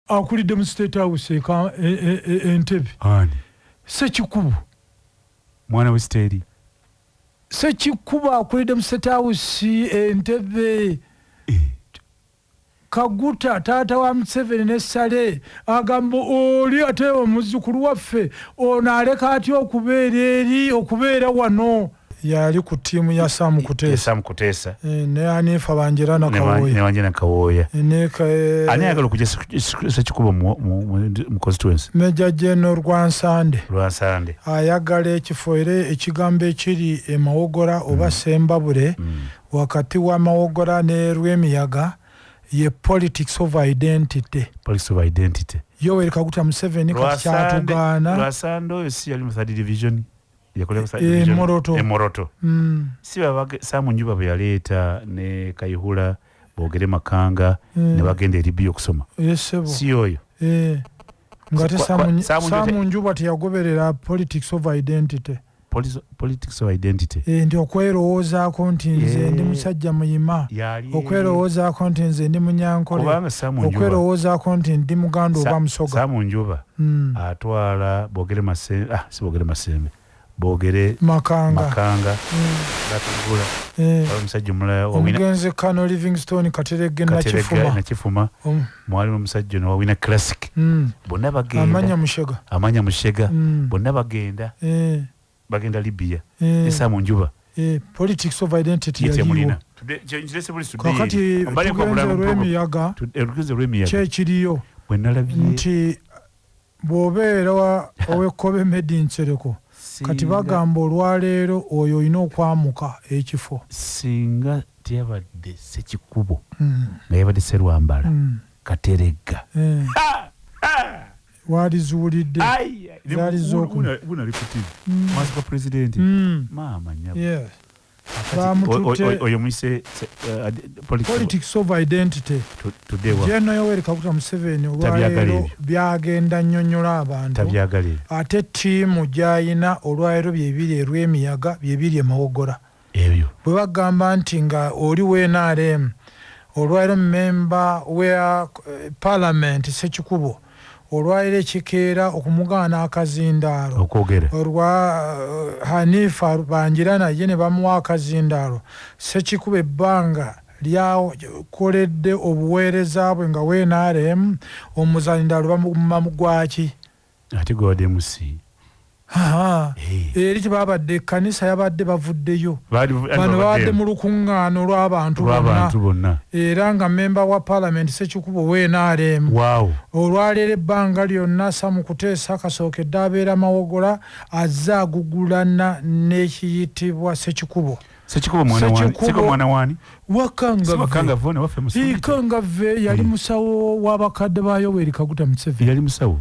akulidde mu state house e, e, e, entebe sekikubo mwana wesiteeri sekikubo akulidde mu state house entebe eh. kaguta taata wa museveni ne sale agamba oli ate omuzukulu waffe ono aleka atya okubeera eri okubeera wano yali ku tiimu ya sam kuteesasam kuteesa eh, ne anifa banjera nakawoyanewanje nakawooya eh, eh, ani ayagala okuja sekikubo mu constituency meja geno lwansande lwansande ayagala ekifo era ekigambo ekiri emawogora oba mm. sembabule mm. wakati wa mawogora ne lwemiyaga ye politics of identity politics of identity yoweri kaguta museveni kati kyatugaana lwasande oyo si yali mu third division emoroto e, e, mm. si babage samu njuba bwe yaleeta ne kayihula bogere makanga eh. ne bagenda eri bi okusoma eh, si oyo eh. ngate samu njuba teyagoberera politics of identity politics of identity eh, nti okwerowoozaako nti nze eh. ndi musajja muyima okwerowoozaako nti nze ndi munyankole okwerowoozaako nti ndi muganda oba musoga samu njuba mm. atwala bogere masembe ah, si bogere masembe bogere makanga, makanga. Mm. atugula eh. omusajja omulala omugenzi kano livingstone katerege nakifuma, nakifuma. Um. mwalimu omusajja ono wawina classic mm. bonna bagenda amanya mushega, amanya mushega. Mm. bonna bagenda eh. bagenda libya eh. esaa mu njuba eh, politics of identity yaliwo kakati tugenze olwemiyaga kyekiriyo nti bwobeera owekkobe medi nsereko kati bagamba olwaleero oyo olina okwamuka ekifo singa teyabadde sekikubo hmm. nga yabadde serwambala hmm. kateregga eh. waliziwulidde zaali zokumaziga pulezidenti maama nyabo oyo muyise uh, politics of identity jeno yoweri kaguta museveni olwaleero byagenda nyonyola abantu ate tiimu gyayina olwaleero byebiri erwemiyaga byebiri emawogora ebyo. Bwebagamba nti nga oli we nrm olwalero member we parliament sekikubo olwalero ekikeera okumugaana akazindaalo olwa hanifa bangirana ye nebamuwa akazindaalo sekikubo ebbanga lyakoledde obuweereza bwe nga we nrm omuzaindaalo bamugumma gwaki? ate gwe wadde musi eri tebabadde ekkanisa yabadde bavuddeyo bano babadde mu lukuŋŋaana olw'abantu bonna era nga mmemba wa paalamenti sekikubo wnrm olwaleero ebbanga lyonna sa mu kuteesa kasookedde abeera mawogola azze agugulana n'ekiyitibwa sekikubo Sekikubo mwana wani? Sekikubo Sekikubo mwana wani? Wakanga Siwa kanga vone wafe musundi Ikanga ve yali hmm. musawo wabakade ba yoweri kaguta msevi Yali musawo?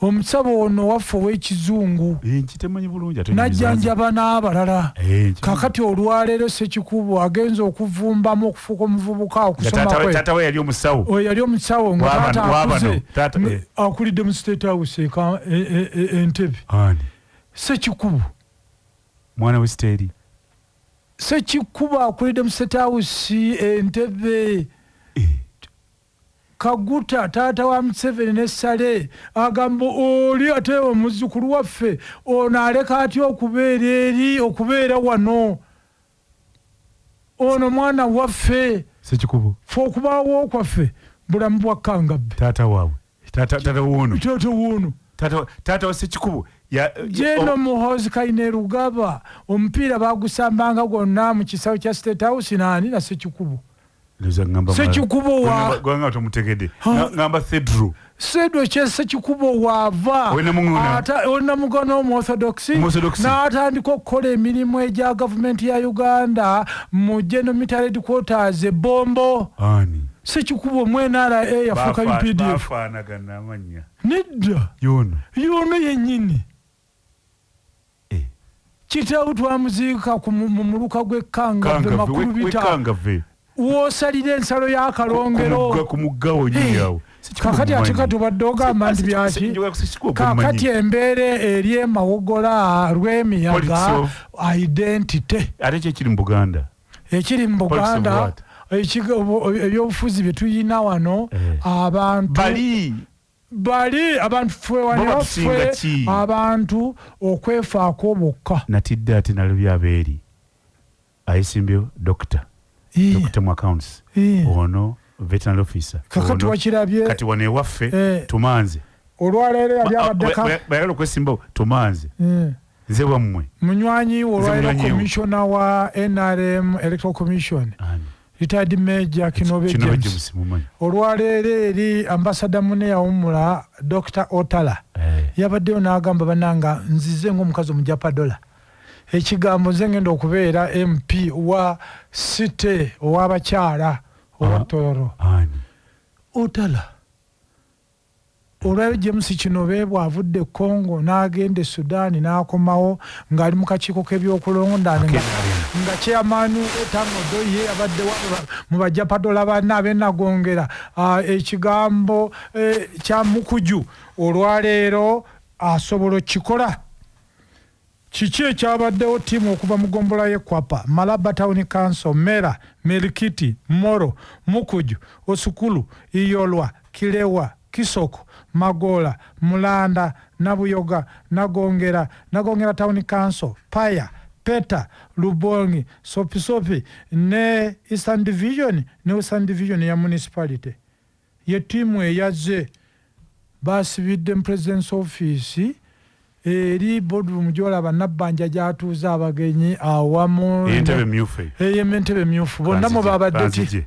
Omusabo ono waffe ow'ekizungu eh, najjanjaba n'abalala eh, kakati olwaleero sekikubo agenza okuvumbamu okufuuka omuvubuka okusomaweyali yali omusawo ngaakuze eh. akulidde mu state house e, e, e, entebe sekikubo mwana we siteeri sekikuba akulidde mu state house entebe eh. kaguta taata wa museveni ne sale agamba oli ate omuzukulu waffe ono aleka atya okubeera eri okubeera wano Ono mwana waffe. Sekikubo. Fe okubaawo kwaffe bulamu bwa Kangabbe. Taata waabwe. Taata taata woono. Taata woono. Taata taata wa Sekikubo. Ya, Jeno oh. Muhoozi Kainerugaba omupiira baagusambanga gwonna mu kisawe kya State House naani na Sekikubo. sekikubo wagamba tomutegede ngamba thedro sedro kyesekikubo waava olina mugona omuorthodox n'atandika okukola emirimu egya gavumenti ya uganda mu general military headquarters ebombo sekikubo mu nra yafuuka updf nedda yono yenyini Kitaawe twamuziika mu muluka gw'e Kangave Makulubita w'osalira ensalo ya Kalongero. Kakati ate kati obadde ogamba nti byaki? Kakati embeera eri emawogola lw'emiyaga identity. Ate ki ekiri mu Buganda? Ekiri mu Buganda ebyobufuzi bye tulina wano eh. abantu Bali abantu fwe wano Baba tusinga fwe ki? abantu okwefaako bokka. Natidde ate nalabye abeeri ayesimbyewo doctor Ii, doctor mu accounts ii. ono veterinary officer Kakati ono. wakirabye kati wano ewaffe Eh. tumanze olwaleero yali abaddeka bayagala okwesimbawo tumanze Eh, nze wammwe munywanyi we olwaleero munywanyi we. commissioner wa nrm electoral commission Ani? retired major kinobe james olwaleero eri ambasada mune yawumula dr otala hey. Eh. yabaddeyo n'agamba bananga nzize ngaomukazi omujapadola ekigambo nze ngenda okubeera mp wa city owabakyala owa ah, tororo otala Olwaleero James Kinobe bw'avudde e Congo n'agenda e Sudan n'akomawo ng'ali mu kakiiko k'ebyokulonda nga chairman Ethan Odoye abadde mu bajapadola banne ab'enagongera ah, ekigambo eh, kya Mukuju olwaleero asobola okukikola. Kiki ekyabaddewo ttiimu okuva mu gombolola ye Kwapa, Malaba Town Council, Mera, Merikiti, Moro, Mukuju, Osukulu, Iyolwa, Kilewa, Kisoko, Magoola, Mulanda, Nabuyoga, Nagongera, Nagongera Town Council, Paya, Peta, Lubongi, Sopisopi ne Eastern Division ne Western Division ya Municipality. Ye ttiimu eyazze baasibidde mu President's Office eri boardroom gy'olaba Nabbanja gy'atuuza abagenyi awamu Entebe emmyufu eyo. eyo Entebe emmyufu bonna mwe Kanzigye, baabadde ti- kanzigye.